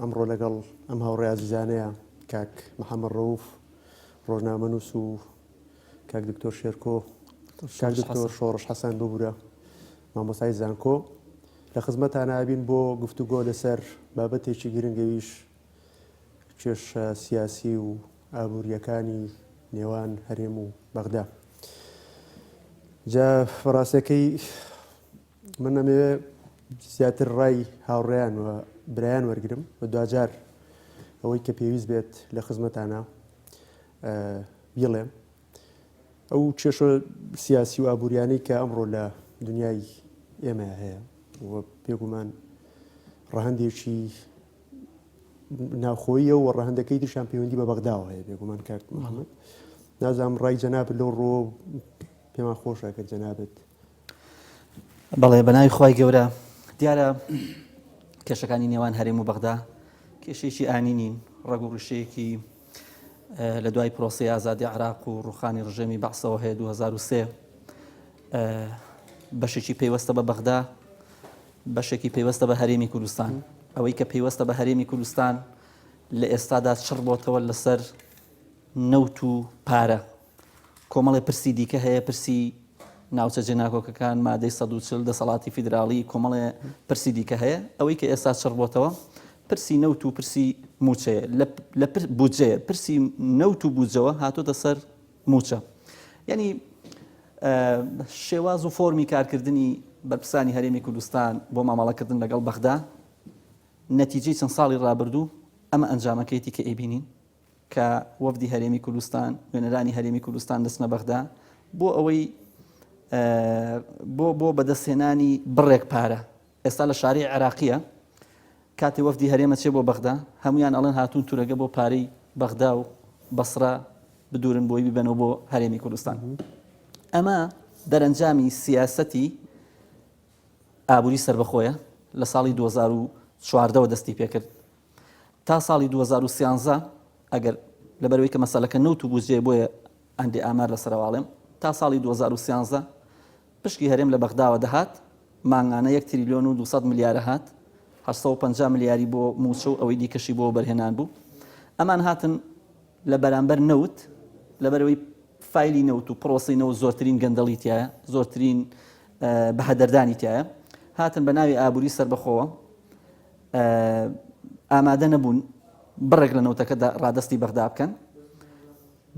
ئەمڕۆ لەگەڵ ئەم هاوڕێ ئازیزانەیە کاک محەمەد ڕەوف ڕۆژنامەنووس و کاک دکتۆر شێرکۆ کاک دکتۆر شۆڕش حەسەن ببوورە مامۆسای زانکۆ لە خزمەتان نابین بۆ گفتوگۆ لەسەر بابەتێکی گرنگەویش کێشە سیاسی و ئابوووریەکانی نێوان هەرێم و بەغدا جا فڕاستەکەی من ئەمەوێ زیاتر ڕای هاوڕێیان و برایان وەرگرم و دواجار ئەوەی کە پێویست بێت لە خزمەتانە بیڵێم ئەو کێشە سیاسی و ئابوووریانەی کە ئەمڕۆ لە دنیای ئێمە هەیە پێگومان ڕەهندێکی ناوخۆیە و ڕەهندەکەی درشان پەیوەندی بە بەغداوە هەیە بێگومان کارت محەممەد نازام ڕای جەناب لەو ڕۆ پێمان خۆشە کە جەنابێت بەڵێ بەناوی خوای گەورە دیارە کێشەکانی نێوان هەرێم و بەغدا کێشێکی ئانی نین ڕەگ و ڕیشەیەکی لە دوای پرۆسی ئازادی عراق و ڕوخانی ڕژێمی بەعسەوە هەیە 2023 بەشێکی پەیوەستە بە بەغدا بەشێکی پەیوەستە بە هەرێمی کوردستان ئەوەی کە پەیوەستە بە هەرێمی کوردستان لە ئێستادا چڕ بۆتەوە لەسەر نەوت و پارە کۆمەڵێ پرسی دیکە هەیە، پرسی ناوچە جێناکۆکەکان، مادەی سەد و چل، دەسەڵاتی فیدراڵی، کۆمەڵێ پرسی دیکە هەیە. ئەوەی کە ئێستا چڕ بۆتەوە پرسی نەوت و پرسی مووچەیە، لە لە پر بودجەیە، پرسی نەوت و بودجەوە هاتۆتە سەر مووچە. یانی ئە شێواز و فۆرمی کارکردنی بەرپرسانی هەرێمی کوردستان بۆ مامەڵەکردن لەگەڵ بەغدا، نەتیجەی چەند ساڵی ڕابردوو ئەمە ئەنجامەکەیەتی کە ئەیبینین. کە وەفدی هەرێمی کوردستان، نوێنەرانی هەرێمی کوردستان دەچنە بەغدا بۆ ئەوەی بۆ بۆ بەدەستهێنانی بڕێک پارە ئێستا لە شاری عێراقیە کاتی وەفدی هەرێمە چێ بۆ بەغدا هەمویان ئەڵێن هاتون تورەگە بۆ پارەی بەغدا و بەسرە بدورن بۆی ببەنەوە بۆ هەرێمی کوردستان ئەمە دەرەنجامی سیاسەتی ئابووری سربەخۆیە لە ساڵی 2014ەوە دەستی پێکرد تا ساڵی دوو هەزار و سیانزە ئەگەر لەبەرەوەی کە مەسەلەکە نەوت و بودجەیە بۆیە هەندێ ئامار لەسەرەواڵێم تا ساڵی دوو هەزار و سیانزە پشکی هەرێم لە بەغداوە دەهات مانگانە یەک تریلیۆن و دوو سەد ملیارە هات هەشت سەد و پەنجا ملیاری بۆ مووچە و ئەوەی دیکەشی بۆ وەبەرهێنان بوو ئەمان هاتن لە بەرامبەر نەوت لەبەرەوەی فایلی نەوت و پرۆسی نەوت زۆرترین گەندەڵی تایە زۆرترین بەهەدەردانی تایە هاتن بە ناوی ئابووری سربەخۆوە ئامادە نەبوون بڕێک لە نەوتەکەدا ڕادەستی بەغدا بکەن،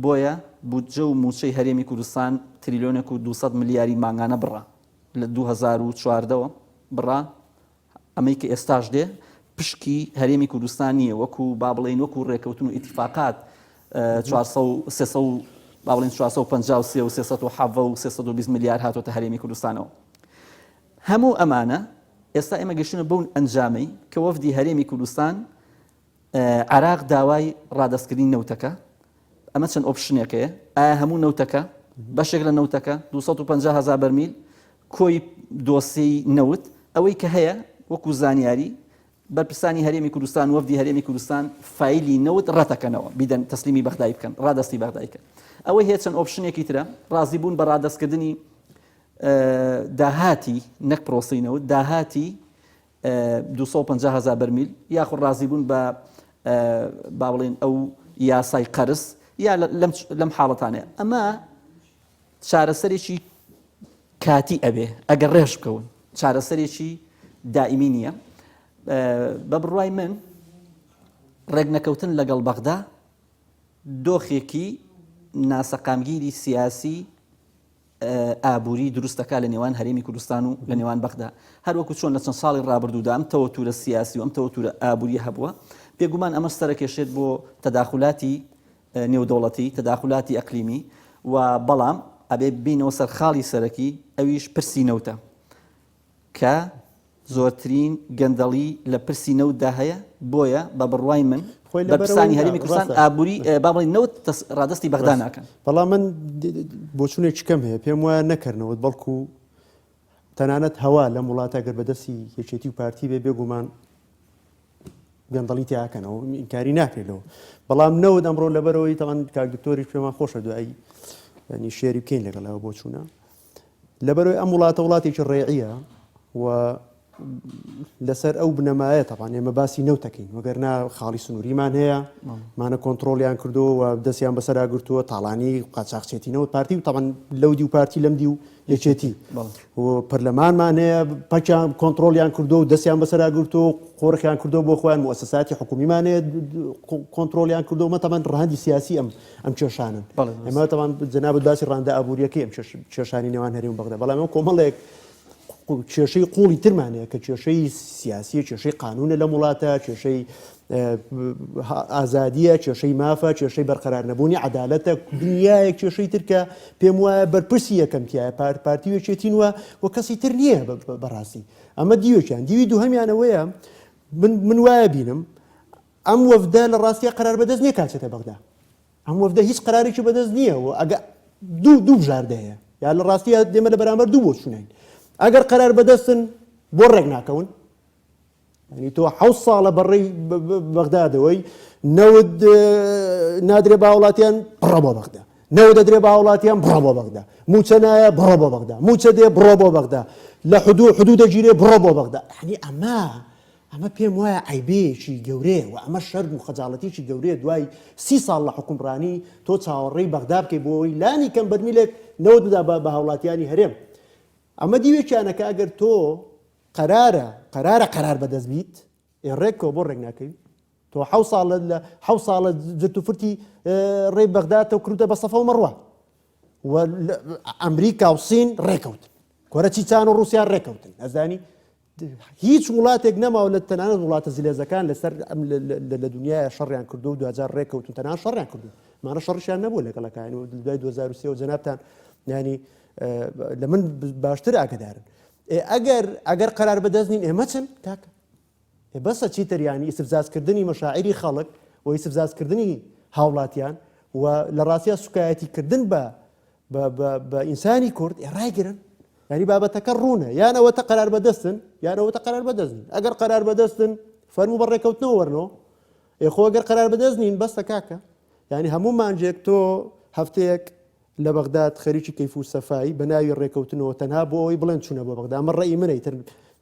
بۆیە بودجە و مووچەی هەرێمی کوردستان تریلیۆنێک و دوو سەد ملیاری مانگانە بڕە لە دوو هەزار و چواردە وە بڕە، ئەمەی کە ئێستاش دێ پشکی هەرێمی کوردستان نییە، وەکو با بڵێین وەکو ڕێکەوتن و ئیتیفاقات چوار سەد و سێ سەد و با بڵێین چوار سەد و پەنجا و سێ و سێ سەد و حەڤە و سێ سەد و بیست ملیار هاتۆتە هەرێمی کوردستانەوە. هەموو ئەمانە ئێستا ئێمە گەشتوونە بەو ئەنجامەی کە وەفدی هەرێمی کوردستان عێراق داوای ڕادەستکردنی نەوتەکە ئەمە چەند ئۆپشنێکەیە ئایا هەموو نەوتەکە بەشێک لە نەوتەکە 250 هزار بەرمیل کۆی دۆسی نەوت ئەوەی کە هەیە وەکو زانیاری بەرپرسانی هەرێمی کوردستان وەفدی هەرێمی کوردستان فیلی نەوت ڕەتەکەنەوە بیدەن تەسلیمی بەغدای بکەن ڕادستی بەغدایکە ئەوەی هەیە چەند ئۆپشنێکی ترە ڕازی بوون بە ڕادستکردنی داهاتی، نەک پرۆسەی نەوت، داهاتی دوو سەد و پەنجا هەزار بەرمیل، یاخود ڕازیبوون بە با بڵێین ئەو یاسای قەرز یا لەم حاڵەتانەیە. ئەمە چارەسەرێکی کاتی ئەبێ ئەگەر ڕێژ بکەون، چارەسەرێکی دائیمی نییە. بە بڕوای من ڕێکنەکەوتن لەگەڵ بەغدا دۆخێکی ناسەقامگیری سیاسی ئابووری دروست دەکات لە نێوان هەرێمی کوردستان و لە نێوان بەغدا. هەروەکو چۆن لە چەند ساڵی ڕابردوودا ئەم تەوەتورە سیاسی و ئەم تەوەتورە ئابوورییە هەبووە، بێگومان ئەمەش سەرەکێشێت بۆ تەداخولاتی نێودەوڵەتی، تەداخولاتی ئەقلیمی و بەڵام ئەبێ بێینەوە سەر خاڵی سەرەکی ئەویش پرسی نەوتە. کە زۆرترین گەندەڵی لە پرسی نەوتدا هەیە، بۆیە بە بڕوای من خۆی لە بەرەوەی بەرپرسانی هەرێمی کوردستان ڕاستە. ئابووری اه، با بڵێین نەوت دەس- ڕادەستی بەغدا ڕاستە. ناکەن. بەڵام من د- د- د- بۆچوونێکی کەم هەیە پێم وایە نەکەرنەوەت بەڵکو تەنانەت هەوا لەم وڵاتە گەر بەدەستی یەکێتی و پارتی بێ بێگومان گەندەڵی تیا ئەکەنەوە من ئینکاری ناکرێت لەوە بەڵام نەوت ئەمڕۆ لەبەرەوەی تەوان کاک دکتۆریش پێمان خۆشە دوایی ینی شێری بکەین لەگەڵ ئەوە بۆچوونە لەبەرەوەی ئەم وڵاتە وڵاتێکی ڕێعە و لەسەر ئەو بنەمایە تەبان ئێمە باسی نەوتەکەین وەگەرنا خاڵی سنووریمان هەیە مانە کۆنتترۆلیان کردو و دەستیان بەسەرا گرتووە تاڵانی قاچاقچێتی نەوت پارتی و تەبان لەو دی و پارتی لەم دی و یەکێتی پەرلەمانمان هەیە پچیان کۆنتترۆلیان کردو و دەستیان بەسەرا گرتو و قۆرخیان کردو بۆ خۆیان موسساتی حکومیمانەیە کۆنتترۆلیان کردو مەتەمان ڕهندی سیاسی ئەم ئەم کێشانەن ئەمە تاوان جەنابەت باسی ڕاندا ئابوووریەکەی ئەم کێشانی نێوان هەرێم بەغدا بەڵام ئەم کۆمەڵێک کێشەی قوڵی ترمانەیە کە کێشەی سیاسی کێشەی قانونە لە وڵاتە کێشەی ئازادیە کێشەی مافە کێشەی بەرقەرار نەبوونی عدالەتە دنیایە کێشەی ترکە پێم وایە بەرپرسی یەکەمتیایە پار پارتیوێکێتین وە و کەسی تر نییە بەڕاستی ئەمە دیوێکیان دیوی دووهمیانەوەیە من من وایە بینم ئەم وەفدە لە ڕاستیا قەرار بەدەست نیە کا چێتە بەغدا ئەم وەفدە هیچ قەرارێکی بەدەست نیە و ئەگە دوو دوو بژاردە هەیە یا لە ڕاستی دێمە لە بەرامبەر دوو بۆ چوونین ئەگەر قەرار بەدەستن بۆ ڕێک ناکەون ینی تۆ حە ساڵە بەڕێی بەغدادەوەی نەود نادرێ باوڵاتیان بڕە بۆ بەغدا نەوە دەدرێ باوڵاتیان بڕە بۆ بەغدا موچە نایە بڕە بۆ بەغدا موچە دێ بڕە بۆ بەغدا لە حدوو حدوو دەگیرێ بڕە بۆ بەغدا ینی ئەمە ئەمە پێم وایە عەیبەیەکی گەورەیە و ئەمە شەرم و خەجاڵەتیەکی گەورەیە دوای سی ساڵ لە حوکمڕانی تۆ چاوەڕێی بەغدا بکەی بۆ ئەوەی لانی کەم بەرمیلێک نەوت بدا بە هاوڵاتیانی هەرێم ئەمە دیوێکیانە کە ئەگەر تۆ قەرارە قەرارە قەرار بەدەست بیت ئێ ڕێکەوە بۆ ڕێک ناکەوی تۆ حەو ساڵە لە حەو ساڵە جرت و فرتی ڕێی بەغدا تۆ کردە بە سەفە و مەڕوە و ئەمریکا و سین ڕێکەوت کۆرە چی چان و ڕوسیا ڕێکەوتن ئەزانی هیچ وڵاتێک نەماوە لە تەنانەت وڵاتە زلێزەکان لەسەر لە دنیاە شەڕیان کردو و دوجار ڕێککەوتن تەنان شەڕیان کردو مانە شەڕشیان نەبوو لەگەڵەکان و دوای 2023 و جەنابان ینی لە من باشتر ئاگدارن ئەگەر ئەگەر قرار بەدەست نین ئێمە چن تاکە بەسە چی تریانی ئیسفزازکردنی مەشاعری خەڵک و ئیسفزازکردنی هاوڵاتیان و لە ڕاستە سوکایەتی کردن بە بە ئینسانی کورد ڕایگرن ینی بابەتەکە ڕوونە یان ئەوەتە قەرار بەدەستن یانەوەتە قەرار بەدەستن ئەگەر قەرار بەدەستن فەرمو بە ڕێکەوتنەوە وەرنەوە ئێخۆ ئەگەر قەرار بەدەست نین بەستە کاکە ینی هەموو مانجێک تۆ هەفتەیەک لە بەغداد خەریکی کەیف و سەفایی بە ناوی ڕێکەوتنەوە تەنها بۆ ئەوی بڵێن چوونە بۆ بەغدا ئەمە ڕێی منەی تر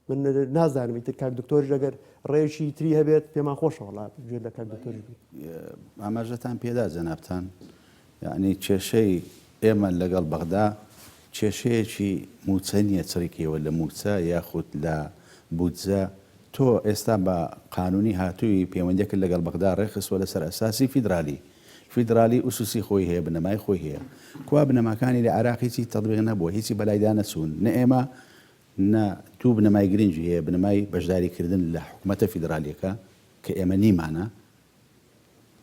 من نازانمی تر کاک دکتۆر لەگەر ڕێکی تری هەبێت پێمان خۆشەوەڵات گوێ لە کاک دکتۆری ئاماژەتان پێدا جەنابان یەعنی کێشەی ئێمە لەگەڵ بەغدا کێشەیەکی مووچە نییە چڕیکەیەوە لە مووچە یاخود لە بودجە، تۆ ئێستا بە قانوونی هاتووی پەیوەندیەکت لەگەڵ بەغدا ڕێکخستووە لەسەر ئەساسی فیدرالی، فیدرالی ئوسوسی خۆی هەیە بنەمای خۆی هەیە، کوا بنەماکانی لە عێراق هیچی تەطبیق نەبووە هیچی بەلایدا نەچوون، نە ئێمە نە دوو بنەمای گرنگی هەیە بنەمای بەشداریکردن لە حکومەتە فیدرالیەکە کە ئێمە نیمانە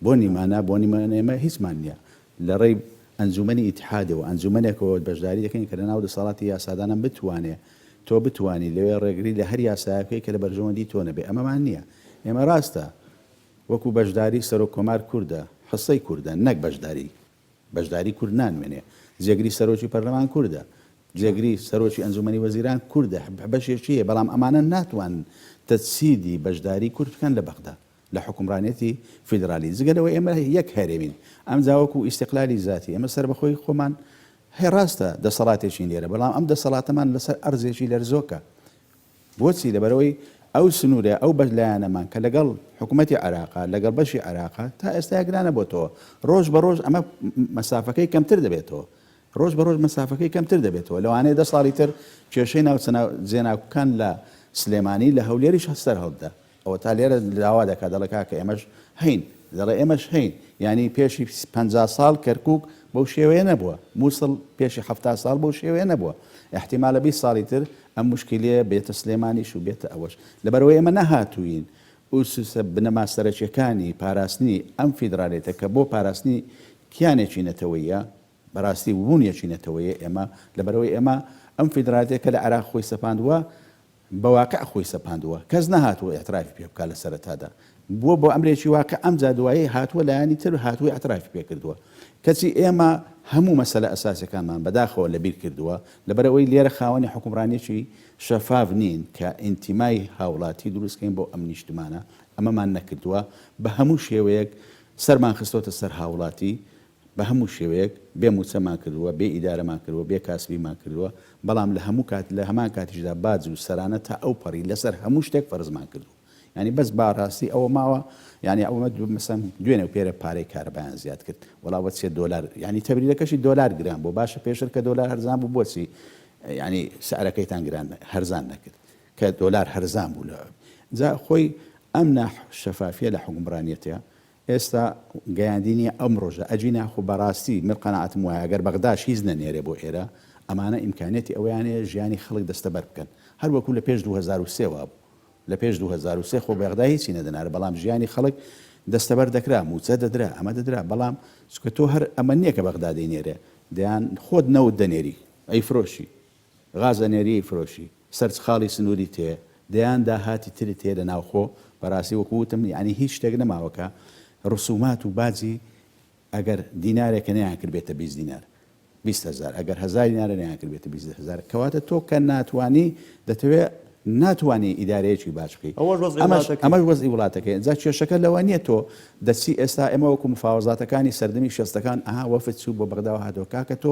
بۆنی مانا، بۆنی من ئێمە هیچمان نییە، لە ڕێی ئەنجوومەنی ئیتحادەوە، ئەنجوومەنێکەوە بەشداری دەکەین کە لەناو دەسەڵاتی یاسادانان بتوانێ، تۆ بتوانی لەوێ ڕێگری لە هەر یاسایەک بکەی کە لە بەرژەوەندی تۆ نەبێ، ئەمەمان نییە. ئێمە ڕاستە وەکوو بەشداری سەرۆک کۆمار کوردە، حسەی کوردە نەک بەشداری، بەشداری کورد نانوێنێ، جێگری سەرۆکی پەرلەمان کوردە، جێگری سەرۆکی ئەنجوومەنی وەزیران کوردە، بەشێکی هەیە، بەڵام ئەمانە ناتوانن تەجسیدی بەشداری کورد بکەن لە بەغدا. لە حوکمڕانیەتی فیدرالی جگە لەوەی ئێمە یەک هەرێمین ئەمجا وەکو ئیستقلالی زاتی ئێمە سەربەخۆی خۆمان هەیە ڕاستە دەسەڵاتێکین لێرە بەڵام ئەم دەسەڵاتەمان لەسەر ئەرزێکی لەرزۆکە بۆچی لەبەرەوەی ئەو سنوورە ئەو بەش لایەنەمان کە لەگەڵ حکوومەتتی عراقا لەگەڵ بەشی عراقا تا ئێستا گرانە بۆتەوە ڕۆژ بە ڕۆژ ئەمە مەسافەکەی کەمتر دەبێتەوە ڕۆژ بە ڕۆژ مەسافەکەی کەمتر دەبێتەوە لەوانەیە دە ساڵی تر کێشەی ناوچە جێناکوکان لە سلێمانی لە هەولێریش هەستەر هەڵبدا ئەوەتا لێرە داوا دەکات دەڵێ کاکە ئێمەش هەین، دەڵێ ئێمەش هەین، یانی پێشی پەنجا ساڵ کەرکوک بەو شێوەیە نەبووە، موسڵ پێشی حەفتا ساڵ بەو شێوەیە نەبووە، ئیحتیمالە بیست ساڵی تر ئەم موشکیلەیە بێتە سلێمانیش و بێتە ئەوەش، لەبەرئەوەی ئێمە نەهاتووین ئوسسە بنەما سەرەکیەکانی پاراستنی ئەم فیدرالیتە کە بۆ پاراستنی کیانێکی نەتەوەییە بەراستی وبوونیەکی نەتەوەیە ئێمە، لەبەرئەوەی ئێمە ئەم فیدرالیتەی کە لە عێراق خۆی سەپاندووە بە واقع خۆی سەپاندووە کەس نەهاتووە ئیعترافی پێ بکات لە سەرەتادا بووە بۆ ئەمرێکی واقع ئەمجا دوایی هاتووە لایەنی تر هاتووە ئیعترافی پێ کردووە کەچی ئێمە هەموو مەسەلە ئەساسیەکانمان بەداخەوە لە بیر کردووە لەبەر ئەوەی لێرە خاوەنی حوکمڕانیەکی شەفاف نین کە ئینتیمای هاوڵاتی دروست کەین بۆ ئەم نیشتمانە ئەمەمان نەکردووە بە هەموو شێوەیەک سەرمان خستۆتە سەر هاوڵاتی بە هەموو شێوەیەک بێ مووچەمان کردووە، بێ ئیدارەمان کردووە، بێ کاسبیمان کردووە، بەڵام لە هەموو کات لە هەمان کاتیشدا باج و سەرانە تا ئەو پەڕی لەسەر هەموو شتێک فەرزمان کردووە. یانی بەس با ڕاستی ئەوە ماوە یانی ئەوە مەسەن دوێنێ و پێرێ پارەی کارەبایان زیاد کرد وەڵا بە سێ دۆلار یانی تەبریدەکەشی دۆلار گران بوو باشە پێشتر کە دۆلار هەرزان بوو بۆچی یانی سعرەکەیتان گران هەرزان نەکرد کە دۆلار هەرزان بوو لە جا خۆی ئەم ناح شەفافیە لە حوکمڕانیەتە ئێستا گەیاندی نیە ئەم ڕۆژە ئەجینا خۆ بەڕاستی من قەناعەتم وایە گەر بەغداش هیچ نەنێرێ بۆ ئێرە ئەمانە ئیمکانیەتی ئەوەیان هەیە ژیانی خەڵک دەستەبەر بکەن هەر وەکو لە پێش دوو هەزار و سێ وابوو لە پێش دوو هەزار و سێ خۆ بەغدا هیچی نەدەنارە بەڵام ژیانی خەڵک دەستەبەر دەکرا موچە دەدرا ئەمە دەدرا بەڵام چونکە تۆ هەر ئەمە نیە کە بەغدا دەینێرێ دەیان خۆت نەوت دەنێری ئەیفرۆشی غازەنێریی فرۆشی سەرچ خاڵی سنووری تێیە، دەیان داهاتی ترت هەیە لە ناوخۆ، بەڕاستی وەکو وتم یانی هیچ شتێک نەماوە کە ڕسومات و باجی ئەگەر دینارێکە نەیانکردبێتە بیست دینار بیست هەزار ئەگەر هەزار دینارە نەیانکردبێتە بیست هەزار کەواتە تۆ کە ناتوانی دەتەوێ ناتوانی ئیدارەیەکی باج بکەی ئەوەش وەزعی وڵاتەکەی ئەمەش وەزعی وڵاتەکەی جا کێشەکە لەوە نیە تۆ دەچی ئێستا ئێمە وەکو مفاوەزاتەکانی سەردەمی شەستەکان ئەها وەفد چوو بۆ بەغداوە هاتەوە کاکە تۆ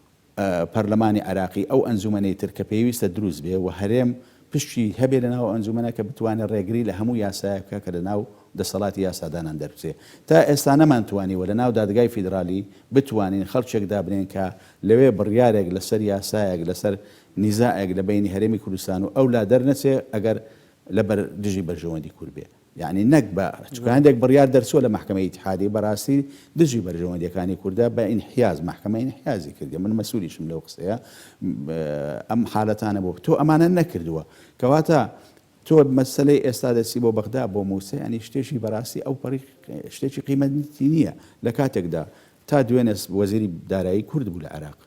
پەرلەمانی عێراقی ئەو ئەنجومەنەی تر کە پێویستە دروست بێ و هەرێم پشکی هەبێ لەناو ئەو ئەنجومەنە کە بتوانێ ڕێگری لە هەموو یاسایەک بکا کە لەناو دەسەڵاتی یاسادانان دەربچێ. تا ئێستا نەمانتوانیوە لەناو دادگای فیدرالی بتوانین خەڵکێک دابنێین کە لەوێ بڕیارێک لەسەر یاسایەک لەسەر نیزاعێک لە بەینی هەرێمی کوردستان و ئەولا دەرنەچێ ئەگەر لە بەر دژی بەرژەوەندی کورد بێ. یەعنی نەکبە چونکە هەندێک بڕیار دەرچووە لە مەحکەمەی ئیتحادی بەڕاستی دژی بەرژەوەندیەکانی کوردە بە ئینحیاز مەحکەمە ئینحیازی کردیە من مەسولیشم لەو قسەیە ئەم حالەتانە بۆ تۆ ئەمانە نەکردووە کەواتە تۆ مەسلەی ئێستا دەچی بۆ بەغدا بۆ مووسە ینی شتێکی بەڕاستی ئەو پەڕی شتێکی قیمەتی نییە لە کاتێکدا تا دوێنێ وەزیری دارایی کورد بوو لە عێراق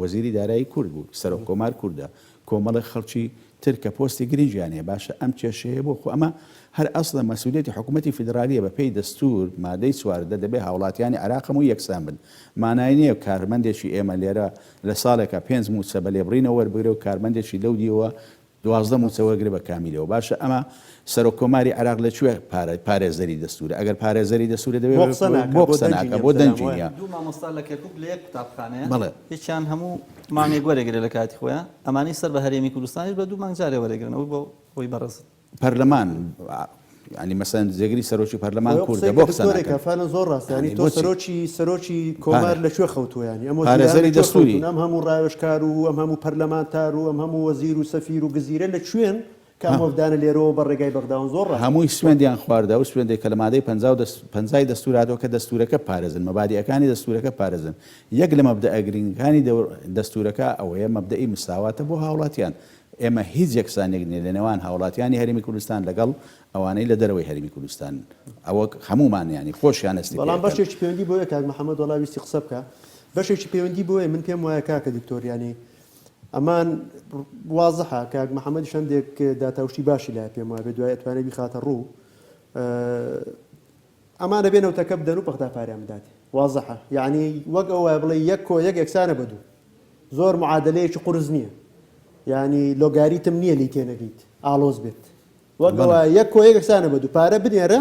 وەزیری دارایی کورد بوو، سەرۆک کۆمار کوردە، کۆمەڵێک خەڵکی تر کە پۆستی گرنگیان هەیە، باشە ئەم کێشەیە بۆ؟ خۆ ئەمە هەر ئەسڵە مەسئولیەتی حکومەتی فیدرالیە، بە پێی دەستور مادەی چواردە دەبێ هاوڵاتیانی عێراق هەمووی یەکسان بن، مانای نیە کارمەندێکی ئێمە لێرە لە ساڵێکا پێنج موچە بە لێبڕینەوە وەربگرێ و کارمەندێکی لەو دیوە دوازدە موچە وەرگرە بە کامیلەوە. باشە ئەمە سەرۆک کۆماری عێراق لە کوێ پارە پارێزەری دەستورە؟ ئەگەر پارێزەری دەستورە دەبێ بۆ قسە ناکا بۆ قسە ناکا بۆ دەنگی نیە؟ دوو مامۆستا لە کەرکوک لە یەک قوتابخانەیە بەڵێ. یەکیان هەموو مانگێک وەرەگرێ لە کاتی خۆیان ئەمانەی سەر بە هەرێمی کوردستانیش بە دوو مانگ جارێ وەرەگرن ئەوە بۆ خۆی بەڕێزن. پەرلەمان. ینی مەسەن جێگری سەرۆکی پەرلەمان کوردە بۆ قسەێکە فەرە زۆر ڕاستانی تۆ سەرۆکی سەرۆکی کۆمار لە کوێ خەوتویانی ئەمە پارێزەری دەستوری ئەم هەموو ڕاوێشکار و ئەم هەموو پەرلەمانتار و ئەم هەموو وەزیر و سەفیر و گزیرە لە کوێن کامۆڤدانە لێرەوە بە ڕێگای بەغداون زۆر هەمووی سوێندیان خواردا و سوێندێک کە لە مادەی پەنجای دەستوراتەوە کە دەستورەکە پارێزن مەبادیەکانی دەستورەکە پارێزن یەک لە مەبدە ئەگرنگەکانی دەستورەکە ئەوەیە مەبدەئی مساواتە بۆ هاوڵاتیان ئێمە هیچ یەکسانیەک نیە لەنێوان هاوڵاتیانی هەرێمی کوردستان لەگەڵ ئەوانەی لە دەرەوەی هەرێمی کوردستانن ئەوە هەمومان یانی خۆشیان هەستی پێ بەڵام ئەکەن. بەشێکی پەیوەندی بەوەیە کاک محمد وەڵا ویستی قسە بکا بەشێکی پەیوەندی بەوەیە من پێم وایە کاکە دکتۆر یانی ئەمان وازحە کاک محمدیش هەندێک داتا و شتی باشی لایە پێم وابێ دوای ئەتوانێ بیخاتە ڕوو ئەمانە بێ نەوتەکە بدەن و پەختا پاریان بدات وازحە یەعنی وەک ئەو وایە بڵێی یەک کۆ یەک یەکسانە بە دوو زۆر معادەلەیەکی قورس نییە یەعنی لۆگاریتم نییە لێی تێنەگەیت ئاڵۆز بێت وەک ئەو وایە یەک کۆ یەک یەکسانە بە دوو پارە بنێرە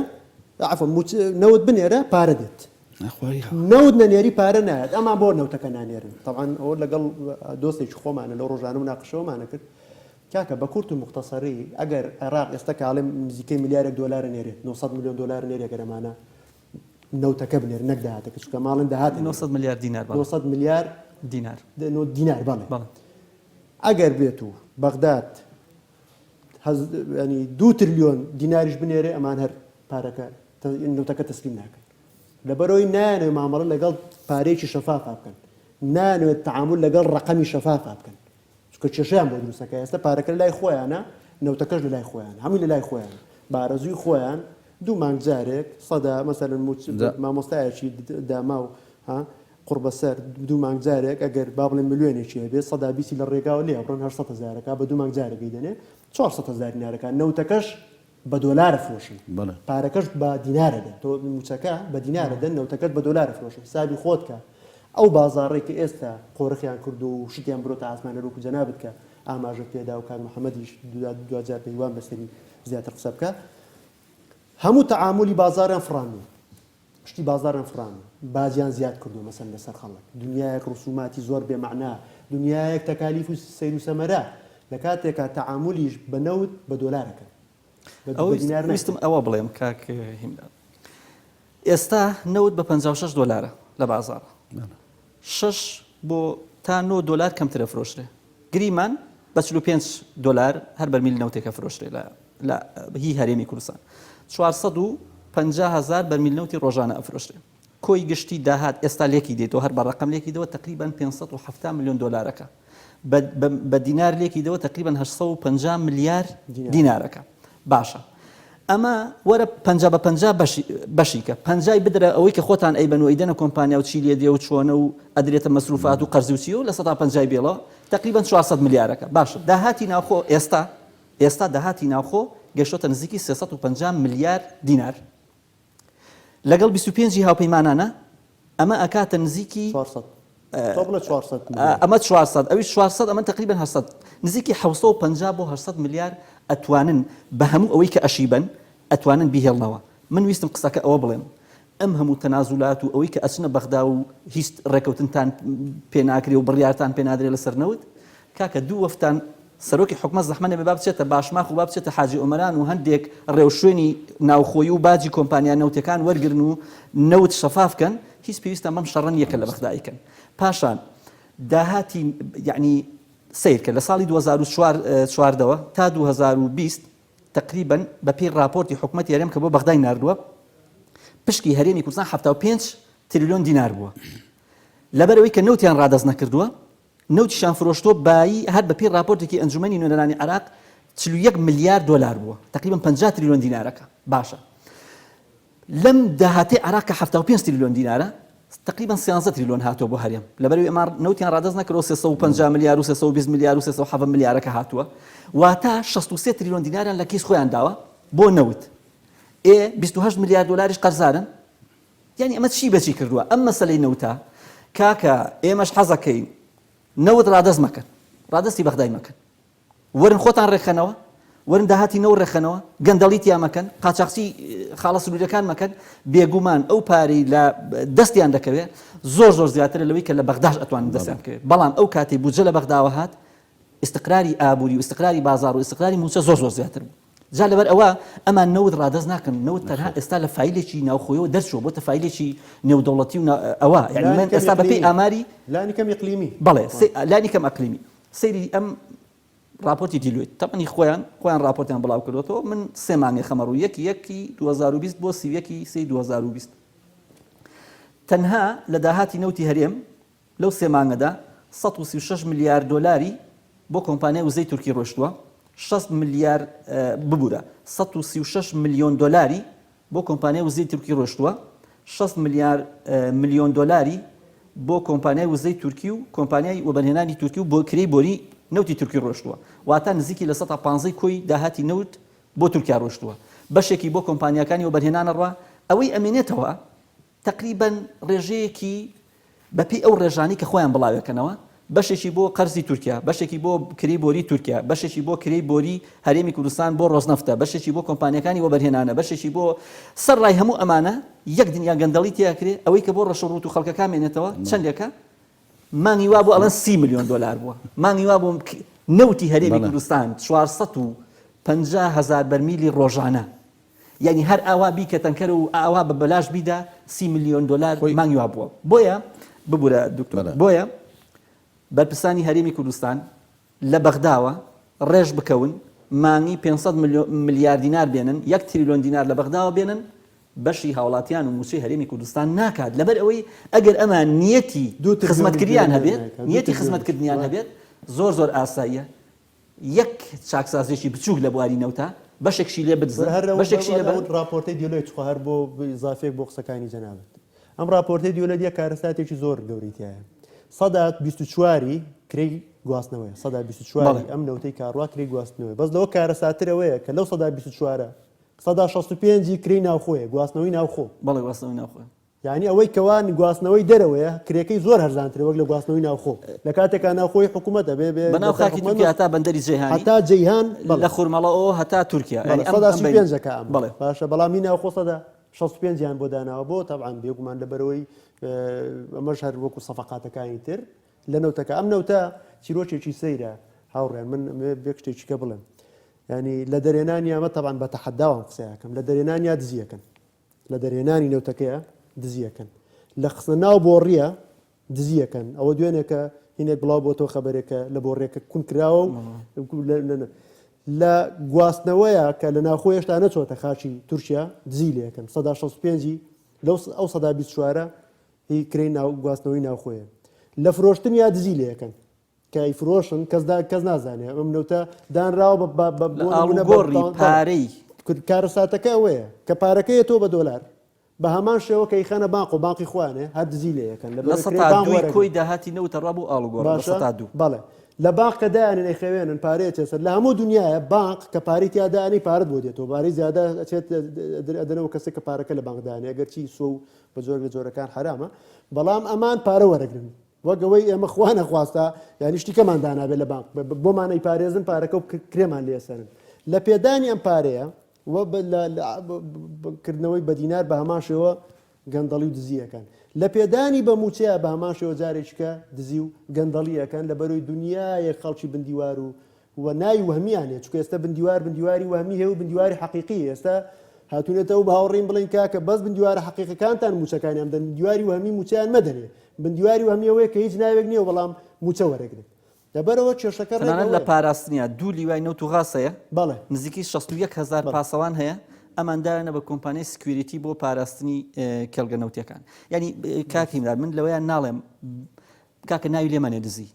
عەفوەن موچ نەوت بنێرە پارە دێت نەوت نەنێری پارە نایەت ئەمان بۆ نەوتەکە نانێرن تەبعەن ئەوە لەگەڵ دۆستێکی خۆمانە لەو ڕۆژانە مناقشەوەمانە کرد کاکە بە کورت و موختەسەری ئەگەر عێراق ئێستا کە ئەڵێم نزیکەی ملیارێک دۆلارە نێرێ نۆ سەد ملیۆن دۆلارە نێرێ گەر ئەمانە نەوتەکە بنێرن نەک داهاتەکە چونکە ئەمە ئەڵێن داهات نێرێ نۆ سەد ملیار دینار بەڵێ نۆ سەد ملیار دینار نۆ دینار بەڵێ بەڵێ ئەگەر بێت و بەغداد هەز یانی دوو ترلیۆن دیناریش بنێرێ ئەمان هەر پارەکە تە نەوتەکە تەسلیم ناکەن لەبەرەوەی نایانەوێ مامەڵە لەگەڵ پارەیەکی شەفافا بکەن نایانەوێت تەعامول لەگەڵ ڕەقەمی شەفافا بکەن چونکە کێشەیان بۆ دروستەکە ئێستا پارەکە لە لای خۆیانە نەوتەکەش لە لای خۆیان هەمووی لە لای خۆیان بارەزوی خۆیان دوو مانگ جارێک سەدا مەسەرن موچ دا. مامۆستایەکی د- داما و ها قڕبەسەر دوو مانگ جارێک ئەگەر با بڵێن ملیۆنێکی هەبێ سەدا بیسی لە ڕێگاوە لێ ئەبڕن 800 هەزارەکە بە دوو مانگ جارێک دەیدەنێ 400 هەزار دینارەکە نەوتەکەش بە دۆلار ئەفرۆشی بەڵێ. پارەکەشت بە دینار ئەدەن تۆ مووچەکە بە دینار ئەدەن نەوتەکەت بە دۆلار ئەفرۆشی حسابی خۆت کە ئەو بازاڕەی کە ئێستا قۆرخیان کردووە و شتیان برۆتە ئاسمان هەروەکو جەنابت کە ئاماژەت پێ دا و کاک محەمەدیش دوا دواجار پێی وام لەسەری زیاتر قسە بکا هەموو تەعامولی بازاڕیان فڕاندووە پشتی بازاڕیان فڕاندووە، باجیان زیاد کردووە مەسەن لەسەر خەڵک، دنیایەک ڕسوماتی زۆر بێ مەعنا، دنیایەک تەکالیف و سەیر و سەمەرە، لە کاتێکا تەعامولیش بە نەوت بە دۆلار ئەکەن، بە دینار ناکەن. ئەوەی ویستم ئەوە بڵێم کاک هیمداد، ئێستا نەوت بە پەنجا و شەش دۆلارە لە بازاڕ، شەش بۆ تا نۆ دۆلار کەمتر ئەفرۆشرێ گریمان بە چل و پێنج دۆلار هەر بەرمیل نەوتێک ئەفرۆشرێ لە لە هی هەرێمی کوردستان چوار سەد و پەنجا هەزار بەرمیل نەوتی ڕۆژانە ئەفرۆشرێ کۆی گشتی داهات ئێستا لێکی دێتەوە هەر بە ڕەقەم لێکی دەوە تەقریبەن پێنج سەد و حەفتا ملیۆن دۆلارەکە. بە دینار لێکی دەوە تقریبا 850 ملیار دینارەکە باشە ئەمە وەرە پ بە پ بەشیکە پنجای بدرە ئەوەی کە خۆتان ئەی بەن و ئەیدەنە کۆمپانیا و چیلیە دێ و چۆنە و ئەدرێتە مەسروفات و قەرزوچی و لە سە پ بێڵە تقریبا 400 ملیارەکە باشە داهاتی ناوخۆ ئێستا ئێستا داهاتی ناوخۆ گەشتە نزیکی 350 ملیار دینار لەگەڵ بیست و پێنج ی هاوپەیمانانە ئەمە ئەکاتە نزیکی چوار سەد تۆ بڵێ چوار سەد ملیار ئەمە چوار سەد ئەویش چوار سەد ئەمە تەقریبەن هەشت سەد نزیکی حەوت سەد و پەنجا بۆ هەشت سەد ملیار ئەتوانن بە هەموو ئەوەی کە ئەشیبەن ئەتوانن بیهێڵنەوە من ویستم قسەکە ئەوە بڵێم ئەم هەموو تەنازولات و ئەوەی کە ئەچنە بەغدا و هیچ ڕێکەوتنتان پێ ناکرێ و بڕیارتان پێ نادرێ لەسەر نەوت کاکە دوو وەفتان سەرۆکی حکومەت زەحمەت نەبێ با بچێتە باشماخ و با بچێتە حاجی ئۆمەران و هەندێک ڕێوشوێنی ناوخۆیی و باجی کۆمپانیا نەوتیەکان وەرگرن و نەوت شەفاف کەن هیچ پێویستیان بەم شەڕە نیە کە لە بەغدا ئەیکەن پاشان داهاتی یەعنی سەیرکە لە ساڵی دوو هەزار و چوار چواردەوە تا دوو هەزار و بیست تەقریبەن بەپێی ڕاپۆرتی حکومەتی هەرێم کە بۆ بەغدای ناردووە پشکی هەرێمی کوردستان حەفتا و پێنج تریلیۆن دینار بووە لەبەرئەوەی کە نەوتیان ڕادەست نەکردووە نەوتیشیان فرۆشتووە بایی هەر بە پێی ڕاپۆرتێکی ئەنجومەنی نوێنەرانی عێراق چل و یەک ملیار دۆلار بووە تەقریبەن پەنجا تریلیۆن دینارەکە باشە لەم داهاتەی عێراق کە حەفتا و پێنج تریلیۆن دینارە تقریبا سیانزە تریلیۆن هاتووە بۆ هەرێم لەبەر ئێمە نەوتیان ڕادەست نەکرەوە سێ سەد و پەنجا ملیار و سێ سەد و بیست ملیار و سێ سەد و حەڤە ملیارەکە هاتووە واتە شەست و سێ تریلیۆن دیناریان لە کیس خۆیان داوە بۆ نەوت ئێ بیست و هەشت ملیار دۆلاریش قەرزارن یانی ئەمە چی بەچی کردوە ئەم مەسەلەی نەوتە کاکە ئێمەش حەزەکەین نەوت ڕادەست مەکەن ڕادەستی بەغدای مەکەن وەرن خۆتان ڕێکخەنەوە وەرن داهاتی نەوت ڕێکخەنەوە گەندەڵی تیا مەکەن قاچاخچی خاڵە سنوریەکان مەکەن بێگومان ئەو پارەی لە دەستیان دەکەوێت زۆر زۆر زیاترە لەوەی کە لە بەغداش ئەتوانن دەستیان بکەوێت بەڵام ئەو کاتی بودجە لە بەغداوە هات استقراری ئابووری و استقراری بازار و استقراری موچە زۆر زۆر زیاتر بوو جا لەبەر ئەوە ئەمان نەوت ڕادەست ناکەن نەوت تەنها ئێستا لە فیلێکی ناوخۆیەوە دەرچوە بۆتە فیلێکی نێودەوڵەتی و ئەوە یعنی من ئێستا بەپی ئاماری لانی کەم ئەقلیمی بەڵێ لانی کەم ئەقلیمی سەیری ئەم راپۆرتی دیلویت تەمەنی خۆیان خۆیان راپۆرتیان بڵاو کردوەوە من سێ مانگێ خەمەڕ و یەکی یەکی 2020 بۆ سیویەکی سی 2020 تەنها لە داهاتی نەوتی هەرێم لەو سێ مانگەدا سەد و سی و شەش ملیار دۆلاری بۆ کۆمپانیای وزەی تورکی ڕۆیشتووە، شەست ملیار، ببورە، سەد و سی و شەش ملیۆن دۆلاری بۆ کۆمپانیای وزەی تورکی ڕۆیشتووە، شەست ملیار، ملیۆن دۆلاری بۆ کۆمپانیای وزەی تورکی و کۆمپانیای وەبەرهێنانی تورکی و بۆ کرێی بۆری نەوتی تورکی ڕۆیشتووە، واتە نزیکی لە سەتا پانزەی کۆی داهاتی نەوت بۆ تورکیا ڕۆیشتووە، بەشێکی بۆ کۆمپانیاکانی وەبەرهێنانە ڕا، ئەوەی ئەمێنێتەوە، تەقریبەن ڕێژەیەکی بە پێی ئەو ڕێژانەی کە خۆیان بڵاوێکەنەوە بەشێکی بۆ قەرزی تورکیا، بەشێکی بۆ کرێی بۆری تورکیا، بەشێکی بۆ کرێی بۆری هەرێمی کوردستان بۆ ڕۆزنەفتە، بەشێکی بۆ کۆمپانیاکانی وەبەرهێنانە، بەشێکی بۆ سەر ڕای هەموو ئەمانە یەک دنیا گەندەڵی تێ ئەکرێ، ئەوەی کە بۆ ڕەش و ڕووت و خەڵکەکان مێنێتەوە چەندێکە؟ مانگی وا بوو ئەڵێن سی ملیۆن دۆلار بووە، مانگی وا بوو نەوتی هەرێمی کوردستان چوار سەد و پەنجا هەزار بەرمیلی ڕۆژانە. یانی هەر ئاوا بیکە تەنکەر و ئاوا بە بەلاش بیدە سی ملیۆن دۆلار خۆی مانگی وابووە بۆیە ببورە دکتۆر بەلام. بۆیە بەرپرسانی هەرێمی کوردستان لە بەغداوە ڕێژ بکەون مانگی پێنج سەد ملیۆ ملیار دینار بێنن یەک تریلۆن دینار لە بەغداوە بێنن بەشی هاوڵاتیان و موچەی هەرێمی کوردستان ناکات لەبەر ئەوەی ئەگەر ئەمان نیەتی دوو تریلیۆنی خزمەتکریان دیلەر هەبێت نایکەن دوو نیەتی تریلیۆنیش خزمەتکردنیان وایە هەبێت زۆر زۆر ئاساییە یەک چاکسازیەکی بچوک لە بواری نەوتە بەشێکشی لێ بدزن بەشێکشی لێ بەرن. ڕاپۆرتەی دیۆلۆی تخوا هەر بۆ ئیزافەیەک بۆ قسەکانی جەنابت ئەم ڕاپۆرتەی دیۆلۆ یەک کارەساتێکی زۆر گەورەی تایە سەدا 24ی کرێی گواستنەوەی سەدا 24 ئەم نەوتەی کاڕوا کرێی گواستنەوەی بەس لەوە کارەساترەوەیە کە لەو سەدا 24 سەدا 65 کرێی ناوخۆیە گواستنەوەی ناوخۆ بەڵێ گواستنەوەی ناوخۆ یانی ئەوەی کەوا گواستنەوەی دەرەوەیە کرێکەی زۆر هەرزانترە وەک لە گواستنەوەی ناوخۆ لە کاتێکا ناوخۆی حکومەت ئەبێ بێ بەناو خاکی تورکیا هەتا بەندەری جەیهانی هەتا جەیهان لە خورمەڵەوە هەتا تورکیا یانی ئەم سەدا سی و پێنجەکە ئەم بەڵێ باشە بەڵام هی ناوخۆ سەدا شەست و پێنج یان بۆ داناوە بۆ تەبعان بێگومان لەبەرەوەی ئەمەش هەر وەکو سەفقاتەکانی تر لە نەوتەکە ئەم نەوتە چیرۆکێکی سەیرە هاوڕێن من بێ شتێکیکە بڵێم ینی لە دەرێنان یامە تەبان بە تەحەداوام قسەیەکەم لە دەرێنان یا دزیەکەن لە دەرهێنانی نەوتەکەیە دزی ئەکەن، لە خستنە ناو بۆڕییە دزی ئەکەن، ئەوە دوێنێ کە هینێک بڵاو بۆتەوە خەبەرێک کە لە بۆڕییەکە کون کراوە و لە گواستنەوەیە کە لە ناوخۆ هێشتا نەچۆتە خاچی تورکیا دزی لێ ئەکەن سەدا 65 لەو ئەو سەدا 24 هی کرێی ناو گواستنەوەی ناوخۆیە لە فرۆشتنیا دزی لێ ئەکەن کە ئەیفرۆشن کەس دا کەس نازانێ ئەم نەوتە دانراوە بە- بە- بە- لە بۆ نموونە بە- ئاڵوگۆڕی بە- پارەی کرد- کارەساتەکە ئەوەیە کە پارەکەی تۆ بە دۆلار بە هەمان شێوە کە خەنە بانق و بانقی خوانێ هەر دزی لێ یەکەن لە لە بەرەی کرێ سەتا بانق دووی وەرەگرن. کۆی داهاتی نەوتە ڕا بۆ ئاڵوگۆڕ لە باشە سەتا دوو بەڵێ لە باق کە دایانن ئەیخەوێنن پارەیە تێسەر لە هەموو دنیاە بانق کە پارەی تیادانی پارەت بۆ دێتەوە بارەی زیادە ئەچێت ئەدەنەوە کەسێک کە پارەکە لە بانکدانێ گەرچی سۆ و بە جۆر لە جۆرەکان حرامە بەڵام ئەمان پارە وەرەگرن وەک ئەوەی ئێمە خوا نەخواستە یانی شتی کەمان دانابێت لە بانق بۆمان ئەیپارێزن پارەکە و کرێمان لێسەرن لە پێدانی ئەم پارەیە و کردنەوەی بەدینار بە هەماشەوە گەندەڵی و دزیەکان لە پێدانی بە موچەیە بە هەماشەوە جارێککە دزی و گەندەڵیەکان لە بەرەوەی دنیایەک خەڵکی بندیوار و و ناوی وەهمیان هەیە چونکە ئێستا بندیوار بندیواری وەهمی هەیە و بندیواری حەقیقی ئێستا هاتونەتەوە بە هاوڕیم بڵێن کاکە بەس بندیوارە حەقیقەکانتان موچەکانیان بدەن بندیواری وەهمی موچەیان مەدەنێ بندیواری وەهمی ئەوەیە کە هیچ ناوێک نییە بەڵام موچە وەرەگرن لەبەرەوە کێشەکە ڕێک تەنانەت لە ئەوەیە پاراستنیا دوو لیوای نەوت و غاز هەیە بەڵێ نزیکەی شەست و یەک هەزار بەڵێ پاسەوان هەیە ئەمان دایانە بە کۆمپانیای سکویریتی بۆ پاراستنی ئێ کێڵگە نەوتیەکان یانی ئێ کاک بەس هیمداد من لەوەیان ناڵێم کاکە ناوی لێ مەنێ دزی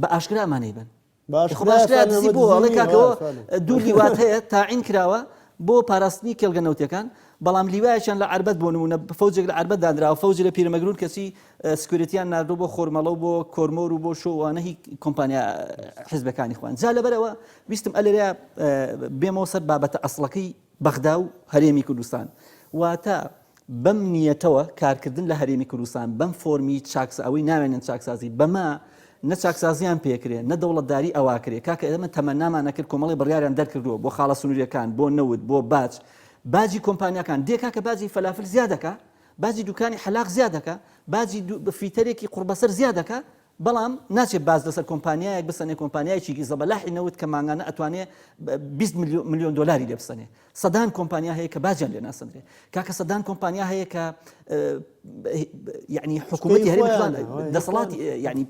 بە ئاشکرا ئەمانەی بەن باشکرا باشکرا فەرمی دزی بۆ دزی ئەڵێ نییە کاکە وە فەرمی دوو لیوات هەیە تاعین کراوە بۆ پاراستنی کێڵگە نەوتیەکان بەڵام لیوایەکیان لە عەربەت بۆ نمونە فەوجێک لە عەربەت دانراوە فەوج لە پیرەمەگرون کەچی سکوریتیان ناردۆ بۆ خۆرمەڵە و بۆ کۆرمۆر و بۆ شۆوانە هی کۆمپانیا حزبەکانی خوان جا لەبەرەوە ویستم ئەلێریا بێمەوە سەر بابەتە ئەسڵەکەی بەغدا و هەرێمی کوردستان واتە بەم نیەتەوە کارکردن لە هەرێمی کوردستان بەم فۆرمی چاکسا ئەوەی ناوێنن چاکسازی بەمە نە چاکسازیان پێکرێ نە دەوڵەتداری ئەواکرێ کاکە ئێمە تەمەنامان نەکرد کۆمەڵی بڕیاریان دەرکردووە بۆ خاڵە سنووریەکان بۆ نەوت بۆ باج باجی کۆمپانیاکان دێ کاکە باجی فەلافل زیادەکە باجی دوکانی حەلاق زیادەکە باجی فیتەرێکی قوڕبەسەر زیادەکە بەڵام ناچێ باز لەسەر کۆمپانیایەک بسەنێ کۆمپانیایەکیکی زەبەلاحی نەوت کە مانگانە ئەتوانێ بیست ملیۆن دۆلاری لێ بسەنێ سەدان کۆمپانیا هەیە کە باجیان لێ ناسەندرێ کاکە سەدان کۆمپانیا هەیە کە یعنی حکوومەتی هەرێم دەسەڵاتی یعنی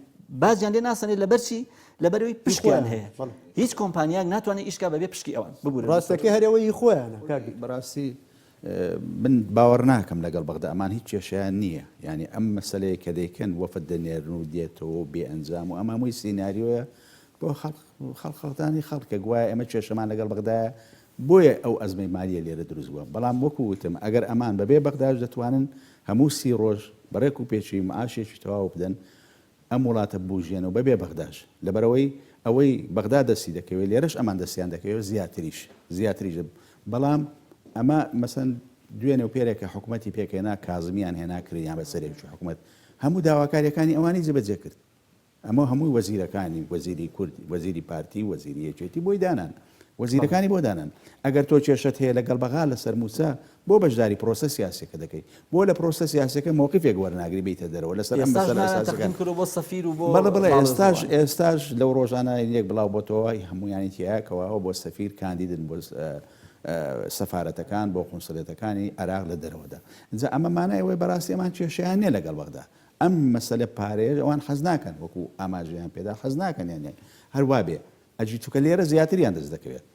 باجیان لێ ناسەنێ لەبەرچی لەبەروی پشکیان هەیە هیچ کۆمپانیان ناتوانێت ئیشکا بەبێ پشکی ئەوان ببوو ڕاستەکە هەرەوەی خۆیانە بەڕاستی من باوەڕ ناکەم لەگەڵ بەغدا ئەمان هیچ کێشەیان نییە یانی ئەم مەسەلەیە کە دەیکەن وەفد دەنێرن و دێتەوە و بێ ئەنجام و ئەمە هەمووی سیناریۆیە بۆ خەڵق خەڵق خەڵتانی خەڵکە گوایە ئێمە کێشەمان لەگەڵ بەغدایە بۆیە ئەو ئەزمەی مالیە لێرە دروست بووە بەڵام وەکو وتم ئەگەر ئەمان بەبێ بەغداش دەتوانن هەموو سی ڕۆژ بەڕێک و پێچی معاشێکی تەواو بدەن ئەم وڵاتە ببوژێنەوە بەبێ بەغداش لەبەرئەوەی ئەوەی بەغدا دەستی دەکەوێت لێرەش ئەمان دەستیان دەکەوێت زیاتریش زیاتریش بەڵام ئەمە مەسەن دوێنێ و پێرێکە حکوومەتی پێکێنا کازمیان هێنا کریان بە سەرێکی حکوومەت هەموو داواکاریەکانی ئەوانی جێبەجێ کرد ئەمە هەمووی وەزیرەکانی وەزیری کورد وەزیری پارتی وەزیری یەکێتی بۆی دانان وەزیرەکانی بۆ دانان ئەگەر تۆ کێشت هەیە لەگەڵ بەغا لەسەر مووسا بۆ بەشداری پرۆسە سیاسیەکە دەکەی؟ بۆ لە پرۆسە سیاسیەکە مەوقیفێک وەرناگری بیتە دەرەوە لەسەر ئەم بەسەلە ئەساسیەکان؟ بەڵێ بەڵێ ئێستاش ئێستاش لەو رۆژانە یەک بڵاو بۆتەوە هەمویانی تیایە کەوا ئەوە بۆ سەفیر کاندیدن بۆ سەفارەتەکان بۆ قونسلێتەکانی عێراق لە دەرەوەدا جا ئەمە مانای ئەوەی بەراستی ئەمان کێشەیان نیە لەگەڵ بەغدا ئەم مەسەلە پارەیە ئەوان حەز ناکەن وەکو ئاماژەیان پێدا حەز ناکەن یانێ هەر وابێ ئەجی چوکە لێرە زیاتریان دەست دەکەوێت.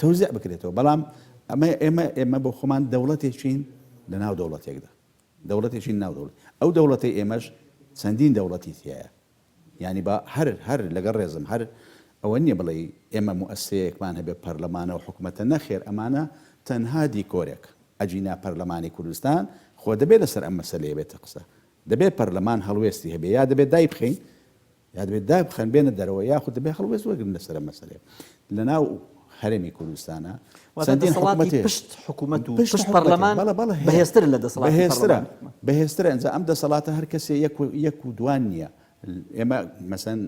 تەوزیع بکرێتەوە بەڵام ئەمە ئێمە ئێمە بۆ خۆمان دەوڵەتێکین لە ناو دەوڵەتێکدا دەوڵەتێکین ناو دەوڵەت ئەو دەوڵەتەی ئێمەش چەندین دەوڵەتی تیایە یعنی با هەر هەر لەگەڵ ڕێزم هەر ئەوە نییە بڵێ ئێمە موسەیەکمان هەبێ پەرلەمانە و حکوومەتە نەخێر ئەمانە تەنها دیکۆرێک ئەجینا پەرلەمانی کوردستان خۆ دەبێت لەسەر ئەم مەسەلەیە بێتە قسە دەبێت پەرلەمان هەڵوێستی هەبێ یا دەبێت دایبخەین یا دەبێت دابخەن بێنە دەرەوە یاخود دەبێت هەڵوێست وەرگرن لەسەر ئەم مەسەلەیە. لەناو هەرێمی کوردستانە واتە چەندین دەسەڵاتی حکومەت هەیە. پشت حکومەت و پشت پشت حکومەت هەیە. پەرلەمان بەڵێ، بەڵێ هەیە. بەهێزترە لە دەسەڵاتی بەهێزترە پەرلەمان. بەهێزترە ئینجا ئەم دەسەڵاتە هەر کەسێ یەک و یەک و دوان نییە ئێمە مەسەن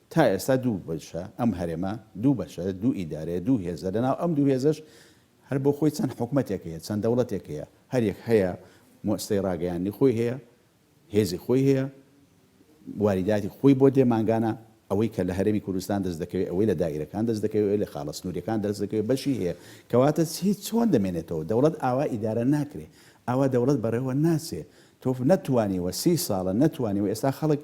تا ئێستا دوو بەشە ئەم هەرێمە دوو بەشە دوو ئیدارەیە دوو هێزە لەناو ئەم دوو هێزەش هەر بۆ خۆی چەند حکومەتێک هەیە چەند دەوڵەتێک هەیە هەر یەک هەیە موسسەی ڕاگەیاندنی خۆی هەیە هێزی خۆی هەیە واریداتی خۆی بۆ دێ مانگانە ئەوەی کە لە هەرێمی کوردستان دەست دەکەوێت ئەوەی لە دائیرەکان دەست دەکەوێت ئەوەی لە خاڵە سنوریەکان دەست دەکەوێت بەشی هەیە کەواتە چی چۆن دەمێنێتەوە دەوڵەت ئاوا ئیدارە ناکرێ ئاوا دەوڵەت بەڕێوە ناچێ تۆ نەتوانیوە سی ساڵە نەتوانیوە ئێستا خەڵک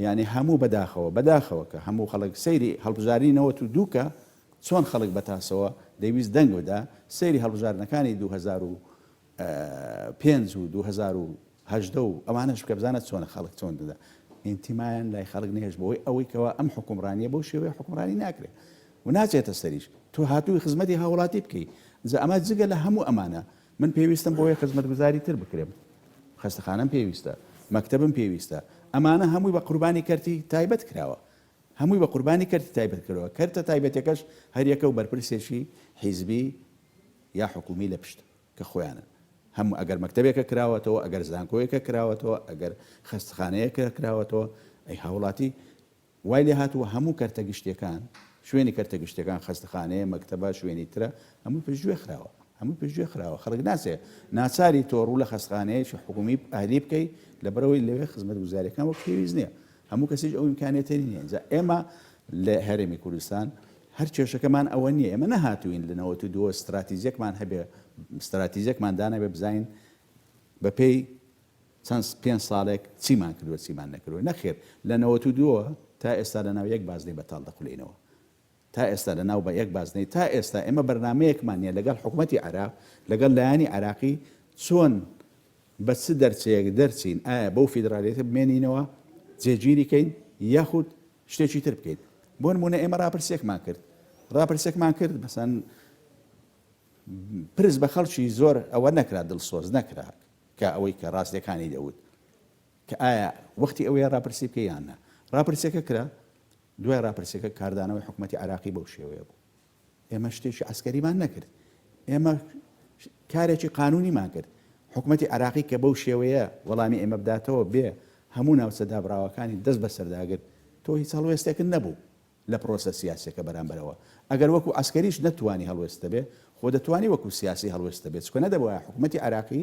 یعنی هەموو بەداخەوە بەداخەوە کە هەموو خەڵک سەیری هەڵبژاری نەوەت و دووکە چۆن خەڵک بەتاسەوە دەویست دەنگ بدا سەیری هەڵبژاردنەکانی 2000 پێنج و دوو هەزار و هەژدە و ئەوانەش بکە بزانە چۆنە خەڵک چۆن دەدا ئینتیمایان لای خەڵک نەهێشت بۆی ئەوەی کەوا ئەم حکومڕانیە بەو شێوەیە حکومڕانی ناکرێ و ناچێتە سەریش تۆ هاتووی خزمەتی هاوڵاتی بکەی جا ئەمە جگە لە هەموو ئەمانە من پێویستم بۆیە خزمەتگوزاری تر بکرێم خەستەخانەم پێویستە مەکتەبم پێویستە ئەمانە هەمووی بە قوربانی کەرتی تایبەت کراوە هەمووی بە قوربانی کەرتی تایبەت کردەوە کەرتە تایبەتەکەش هەریەکە و بەرپرسێکی حیزبی یا حکومی لە پشتە کە خۆیانن هەموو ئەگەر مەکتەبێکە کراوەتەوە ئەگەر زانکۆیەکە کراوەتەوە ئەگەر خەستخانەیەکە کراوەتەوە ئەی هاوڵاتی وای لێ هاتووە هەموو کەرتە گشتیەکان شوێنی کەرتە گشتەکان خەستخانەیە مەکتەبە شوێنی ترە هەموو پشتگوێ خراوە هەموو پشتگوێ خراوە خەڵک ناسێ ناچاری تۆ ڕوو لە خەستخانەیەکی حکومی ئەهلی بکەی لەبەرەوەی لەوێ خزمەت گوزارەکان وەک پێویست نییە هەموو کەسیش ئەو امکانێتە نییە ئێمە لە هەرێمی کوردستان هەر کێشەکەمان ئەوە نیە ئێمە نەهاتووین لە نەوەت و دووەوە ستراتیجێکمان هەبێ ستراتیجێکمان دانابێ بزانین بە پێی چەند پێنج ساڵێک چیمان کردووە چیمان نەکردووە نەخێر لە نەوەت و دووەوە تا ئێستا لە ناو یەک بازنەی بەتاڵ دەخولێینەوە تا ئێستا لە ناو بە یەک بازنەی تا ئێستا ئێمە بەرنامەیەکمان نیە لەگەڵ حکوومەتی عێراق لەگەڵ لایەنی عێراقی چۆن بە چ دەرچەیەک دەرچین، ئایا بەو فیدرالیەتە بمێنینەوە، جێگیری کەین یاخود شتێکی تر بکەین. بۆ نموونە ئێمە راپرسیەکمان کرد، راپرسیەکمان کرد مەسەن پرس بە خەڵکی زۆر ئەوە نەکرا دڵسۆز نەکرا کە ئەوەی کە راستیەکانی دەوت کە ئایا وەختی ئەوەیە راپرسی بکەی یان نا. راپرسیەکە کرا، دوای راپرسیەکە کاردانەوەی حکومەتی عێراقی بەو شێوەیە بوو. ئێمە شتێکی عەسکەریمان نەکرد، ئێمە کارێکی قانونیمان کرد. حکومەتی عێراقی کە بەو شێوەیە وەڵامی ئێمە بداتەوە بێ هەموو ناوچە دابڕاوەکانی دەست بەسەردا گرت، تۆ هیچ هەڵوێستێکت نەبوو لە پرۆسە سیاسیەکە بەرامبەرەوە. ئەگەر وەکو عەسکەریش نەتتوانی هەڵوێستت هەبێ، خۆ دەتوانی وەکو سیاسی هەڵوێستت هەبێ، چونکە نەدەبوایە حکومەتی عێراقی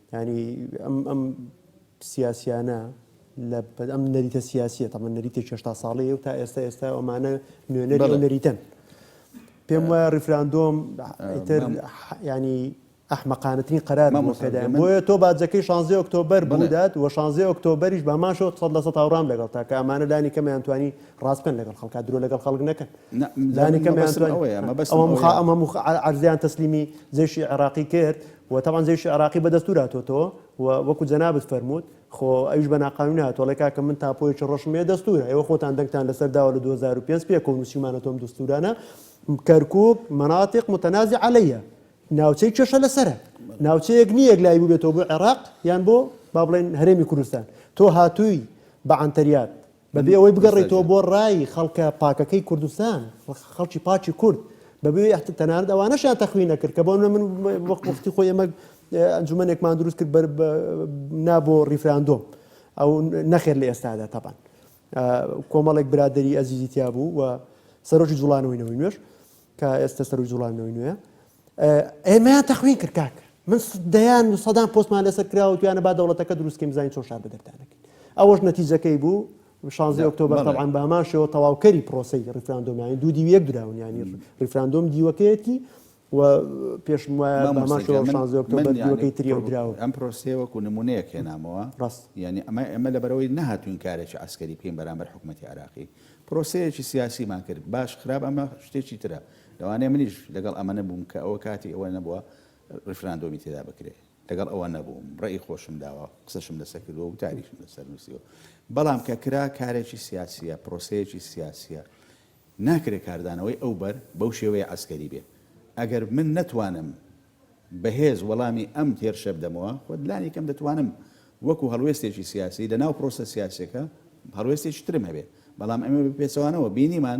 یانی ئەم ئەم سیاسیانە لە بەد ئەم نەریتە سیاسیە تەمە نەریتی چێشتا ساڵی و تا ئێستا ئێستا ئەمانە نوێنەر نەریتن پێم وایە ڕیفراندۆم تر ینی ئەحمەقانەتنی قەرار مەمۆسەدایم بۆیە تۆ باجەکەی شانزی ئۆکتۆبەر بڵدات و شانزی ئۆکتۆبەریش بە ماشۆ سەد لە سە تاڕام لەگەڵ تا کە ئەمانە لانی کەمیان توانی ڕاستکەن لەگەڵ خەڵکا درۆ لەگەڵ خەڵک نەکەن لانی کەمیان ئەمە مخ ئەرزیان تەسلیمی جێشی عێراقی کرد و تەبعەن جەیشی عێراقی بە دەستور هاتۆتەوە و وەکو جەنابت فەرمووت خۆ ئەویش بە ناقانونی هاتوە ئەڵێ کاکە من تاپۆیەکی ڕەشم هەیە دەستورە ئێوە خۆتان دەنگتان لەسەر داوە لە دوو هەزار و پێنج پێکەوە نوسیومانەتەوە ئەم دەستورانە کەرکوک مناطق متنازع علیە ناوچەی کێشە لەسەرە ناوچەیەک نییە یەک لای بوبێتەوە بۆ عێراق یان بۆ با بڵێن هەرێمی کوردستان تۆ هاتووی بە عەنتەریات بەبێ ئەوەی بگەڕێیتەوە بۆ ڕای خەڵکە پاکەکەی کوردستان، خەڵکی پاکی کورد، بەبێ ئەوەی تەنانەت ئەوانەشیان تەخوی نەکرد، کە بۆ نموونە من وەک وەختی خۆی ئێمە ئەنجوومەنێکمان دروست کرد بەر نا بۆ ڕیفراندۆم، ئەو نەخێر لە ئێستادا تەبان کۆمەڵێک برادەری ئەزیزی تیا بوو و سەرۆکی جوڵانەوەی نەوەی نوێش کە ئێستا سەرۆک جوڵانەوەی نوێ ئێمەیان تەخوین کرد کاک من دەیان و سەدان پۆستمان لەسەر کراوە و توانە با دەوڵەتەکە دروستکەین بزانین چۆن شار بەدەردانەکەین ئەوەش نەتیجەکەی بوو شانزی ئۆکتۆبر طبعا بامان شێوە تەواوکەری پرۆسی ڕفراندۆمیانی دوو دیوی یەک دراون ینی ڕفراندۆم دیوەکەیەتی و پێشم وایە بامان شێوە شانزی ئۆکتۆبر دیوەکەی تری و دراوە ئەم پرۆسیە وەکو نمونەیەک هێنامەوە ڕاست ینی ئەمە ئەمە لەبەرەوەی نەهاتوین کارێکی عسکەری بکەین بەرامبەر حکوومەتتی عراقی پرۆسەیەکی سیاسیمان کرد باش خراپ ئەمە شتێکی ترە لەوانەیە منیش لەگەڵ ئەمە نەبووم کە ئەوە کاتی ئەوە نەبووە ڕیفراندۆمی تێدا بکرێ، لەگەڵ ئەوە نەبووم، ڕەئی خۆشم داوە، قسەشم لەسەر کردووە، وتاریشم لەسەر نووسیوە، بەڵام کە کرا کارێکی سیاسییە، پرۆسەیەکی سیاسییە، ناکرێ کاردانەوەی ئەو بەر بەو شێوەیە عەسکەری بێ. ئەگەر من نەتوانم بەهێز وەڵامی ئەم هێرشە بدەمەوە، خۆ لانیکەم دەتوانم وەکوو هەڵوێستێکی سیاسی لەناو پرۆسە سیاسییەکە هەڵوێستێکی ترم هەبێ، بەڵام ئێمە بە پێچەوانەوە بینیمان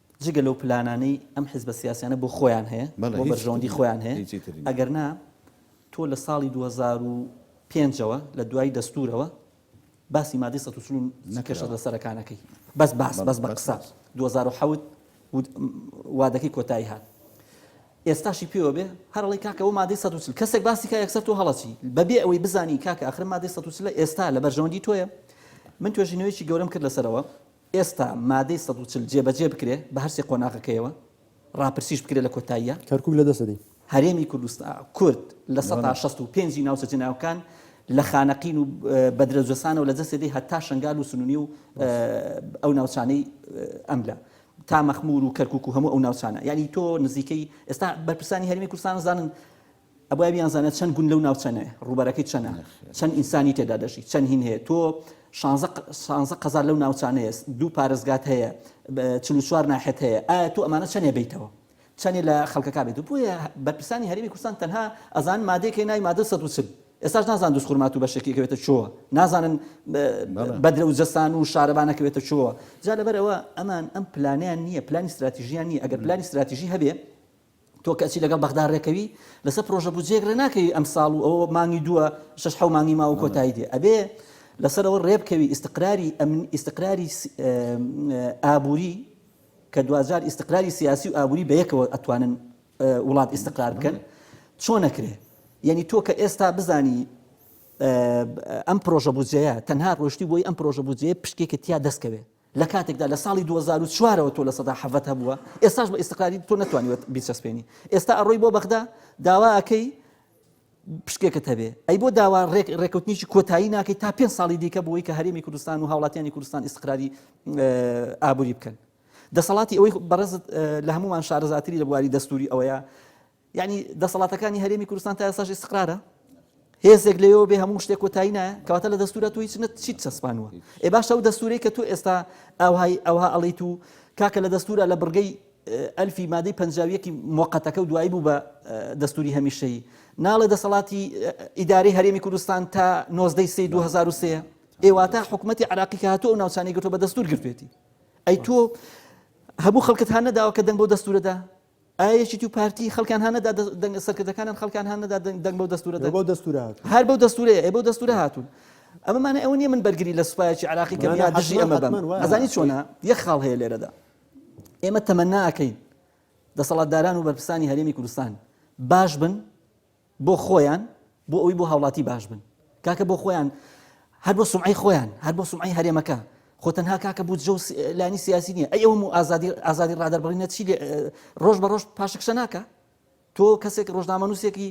جگە لەو پلانانەی ئەم حزبە سیاسیانە بۆ خۆیان هەیە بۆ بەرژەوەندی خۆیان هەیە ئەگەر نا تۆ لە ساڵی 2005 ەوە لە دوای دەستورەوە باسی مادەی 1940 کێشە لە سەرەکانەکەی بەس باس بەس بە قسە 2010 وادەکەی کۆتایی هات ئێستاشی پێوە بێ هەرڵی کاکەەوە مادەی 1940 کەسێک باسی کا یەکسەر تۆ هەڵەچی بەبێ ئەوەی بزانی کاکە ئەخر مادەی 1940 ئێستا لە بەرژەوەندی تۆیە من توێژینەوەیکی گەورەم کرد لەسەرەوە ئێستا مادەی سەد و چل جێبەجێ بکرێ بە هەرسێ قۆناغەکەیەوە، ڕاپرسیش بکرێ لە کۆتاییا. کەرکوک لە دەستی. هەرێمی کوردستان، کورد لە سەتا شەست و پێنج ی ناوچە جنێوەکان لە خانەقین و بەدرە جۆسانەوە لە جەسێ دێ هەتا شەنگال و سنونی و ئەو ناوچانەی ئەم لە تا مەخمور و کەرکوک و هەموو ئەو ناوچانە یانی تۆ نزیکەی ئێستا بەرپرسانی هەرێمی کوردستان ئەزانن ئەبایە بیانزانێ چەند گوند لەو ناوچەنەیە، ڕووبەرەکەی چەنە، چەند ئینسانی تێدا دەژی، چەند هین هەیە، تۆ شانزە شانزە قەزا لەو ناوچانەیە، دوو پارێزگات هەیە، چل و چوار ناحێەت هەیە، ئایا تۆ ئەمانە چەنێ بەیتەوە؟ چەنێ لە خەڵکەکا بێت؟ بۆیە بەرپرسانی هەرێمی کوردستان تەنها ئەزانن مادەیەک هەیە ناوی مادە سەد و چل، ئێستاش نازانن دوزخورماتوو بەشێکی ئەکەوێتە چۆ، نازانن بەدرە و جەسان و شارەبان ئەکەوێتە چۆ، جا لەبەر ئەوە ئەمان ئەم پلانەیان نییە، پلانی ستراتیژییان نییە، ئەگەر پلانی ستراتیژی هەبێ، تۆ کەچی لەگەڵ بەغدا رێکەوی لەسەر پرۆژە بودجەیەک رێناکەوی ئەمساڵ و ئەوە مانگی دووە شەش حەو مانگی ماوە کۆتایی دێ ئەبێ لەسەر ئەوە رێبکەوی ئیستقراری ئەمن ئیستقراری ئابوری کە دواجار ئیستقراری سیاسی و ئابوری بەیەکەوە ئەتوانن وڵات ئیستقرار بکەن چۆن ئەکرێ یەنی تۆ کە ئێستا بزانی ئەم پرۆژە بودجەیە تەنها رۆشتی بۆی ئەم پرۆژە بودجەیە پشکێکە تیا دەستکەوێ لە کاتێکدا لە ساڵی دوو هەزار و چوار ەوە تۆ لە سەدا حەڤەت هەبووە ئێستاش بە ئیستقراریت تۆ نەتوانیوە بیچەسپێنی ئێستا ئەڕۆی بۆ بەغدا داوا ئەکەی پشکێکت هەبێ ئەی بۆ داوا ڕێک ڕێکوتنیی کۆتایی ناکەیت تا پێ ساڵی دیکە بۆی کە هەرێمی کوردستان و هاوڵاتیانی کوردستان ئیسقراری ئابووری بکەن دەسەڵاتی ئەوەی بەڕێزت لە هەمومان شارەزاتری لە بواری دەستوری ئەوەیە یەعنی دەسەڵاتەکانی هەرێمی کوردستان تا ئێستاش ئیستقرارە؟ هێزێک لەوێوە بێ هەموو شتێک کۆتایی نایە کەواتە لە دەستورە تۆ هیچ نەت چیت چەسپانوە ئێ باشە و دەستورەی کە تۆ ئێستا ئەوهای ئەوها ئەڵیت و کاکە لە دەستورە لە بڕگەی ئەلفی مادەی پەنجاویەکی موقتەکە و دوایی بوو بە دەستوری هەمیشەی ناڵێ دەسەڵاتی ئیداری هەرێمی کوردستان تا نۆزدەی سی 2023 ئێواتە حکوومەتتی عراقی کە هاتوو ئەو ناوچانی گرتو بە دەستور گرتێتی ئەی تۆ هەبوو خەڵکت هەان نەداوە کە دەنگ بۆ دەستورەدا ئایا یەکێتی و پارتی خەڵکیان هان نەدا دەنگە سەرکردەکانیان خەڵکیان هان نەدا دەنگ بەو دەستوورە دەن؟ بەو دەستوورە هاتوون. هەر بەو دەستوورەیە، ئەی بەو دەستوورە هاتوون. ئەمە مانای ئەوە نییە من بەرگری لە سوپایەکی عێراقی کەم یا دژی ئەمە بم. ئەزانی چۆنە؟ یەک خاڵ هەیە لێرەدا. ئێمە تەمەنا ئەکەین دەسەڵاتداران و بەرپرسانی هەرێمی کوردستان باش بن، بۆ خۆیان بۆ ئەوی بۆ هاوڵاتی باش بن کاکە بۆ خۆیان هەر بۆ سمعی خۆیان هەر بۆ سمعی هەرێمەکە خۆ تەنها کاکە بوو جە لانی سیاسی نیە ئەی ئەوم و ئازادی ئازادی ڕادەر بڵی نەچی ڕۆژ بە ڕۆژ پاشکشە ناکە تۆ کەسێک ڕۆژنامەنووسێکی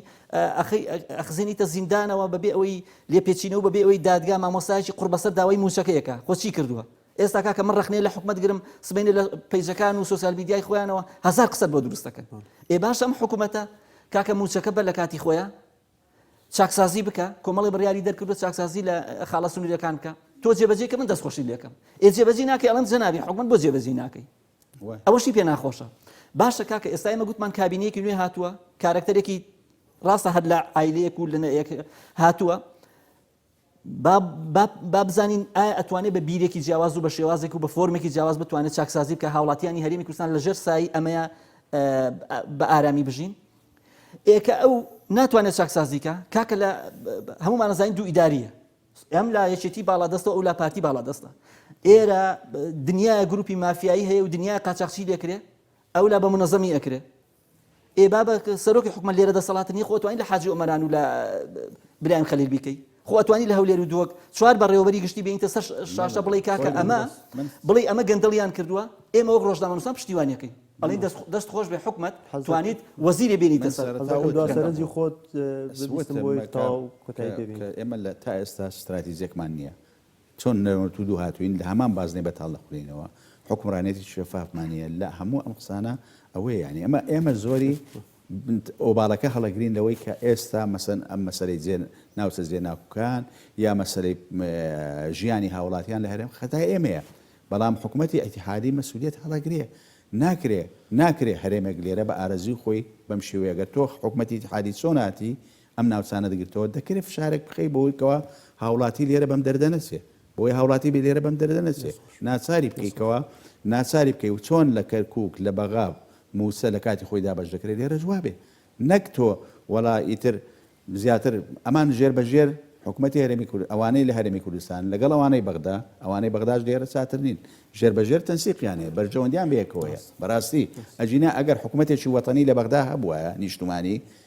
ئەخزێنیتە زیندانەوە بەبێ ئەوەی لێپێچینەوە بەبێ ئەوەی دادگا مامۆسایکی قڕبەسەر داوای موچەکەیەکە خۆچی کردووە ئێستا کاکە من ڕەخنەی لە حکومەت گرم سبەینێ لە پەیجەکان و سۆسیال میدیای خۆیانەوە هەزار قسەت بۆ دروست دەکەن ئێ باشە ئەم حکومەتە کاکە موچەکە بە لە کاتی خۆیان چاکسازی بکە کۆمەڵی بڕیاری دەرکردو چاکسازی لە خاڵە سنوورەکان بکە تۆ جێبەجێ کە من دەستخۆشی لەکەم ئێ جێبەجی ناکەی ئەڵەن جەنابی حکومت بۆ جێبەجی ناکەی ئەوەشی پێ ناخۆشە باشە کاکە ئێستا ئمە گوتمان کابینەیەکی نوێ هاتووە کارکتەرێکی ڕاستە هەر لە ئایلەیەک و لەنەیەک هاتووە با با با بزانین ئایا ئەتوانێ بە بیرێکی جیاواز و بە شێوازێک و بە فۆرمێکی جیاواز بتوانێت چاکسازی بکە هاوڵاتیانی هەرێمی کوردستان لە ژێر سایی ئەمەیە بە ئارامی بژین ئێکە ئەو ناتوانێت چاکسازیکە کاکە لە هەمومان زانین دوو ئیداریە ئەم لا یەکێتی باڵا دەستە ئەو لا پارتی باڵا دەستە ئێرە دنیای گروپی مافیایی هەیە و دنیای قاچاقچی دەکرێت ئەو لا بە منەزەمی ئەکرێت ئێ بابە سەرۆکی حکومەت لێرە دەسەڵات نیە خۆ ئەتوانی لە حاجی ئۆمەران و لە برایم خەلیل بیکەی خۆ ئەتوانی لە هەولێر و دووەک چوار بەڕێوەبەری گشتی بینیتە سەر شاشە بڵێ کاکە ئەمە بڵێ ئەمە گەندەڵیان کردووە ئێمە وەک ڕۆژنامەنووسان پشتیوانیەکەی ئەڵین دەست خۆش بێ حکومت توانیت وەزیری بینیتە سەرنجی خۆت ئێمە لە تا ئێستا ستراتیزیەکمان نییە چۆن نەرمەت و دووهاتووین، لە هەمان بازنەی بەتاڵ دەخولێینەوە، حوکمڕانیەتیکی شەفافمان نیە، لە هەموو ئەم قسانە ئەوەیە یانی ئەمە ئێمە زۆری ئۆباڵەکە هەڵەگرین لەوەی کە ئێستا مەسەن ئەم مەسەلەی جێ ناوچە جێ ناکوکان یا مەسەلەی ژیانی هاوڵاتیان لە هەرێم خەتای ئێمەیە بەڵام حکوومەتی ئەتیحادی مەسولیت هەڵەگرێ ناکرێ ناکرێ هەرێمێک لێرە بە ئارەزوی خۆی بەم شێوەیەگە تۆخ حکوومەتی تحادی چۆناتی ئەم ناوچانە دەگرتەوە، دەکرێ فشارێک بخەی بەوەی کەوا هاوڵاتی لێرە بەم دەردە نەچێ، بەوەی هاوڵاتی بێ لێرە بەم دەردە نەچێ، ناچاری بکەی کەوا ناچاری بکەی و چۆن لە کەرکوک، لە بەغا مووچە لە کاتی خۆی دابەش دەکرێ، لێرەش وابێ، نەک تۆ وەڵا ئیتر زیاتر ئەمان ژێر بە ژێر حکومەتی هەرێمی کورد، ئەوانەی لە هەرێمی کوردستان لەگەڵ ئەوانەی بەغدا، ئەوانەی بەغداش لێرە چاتر نین، ژێر بە ژێر تەنسیقیان هەیە، بەرژەوەندیان بەیەکەوەیە، بەراستی ئەگینا ئەگەر حکومەتێکی وەتەنی لە بەغدا هەبوایە نیشتمانی،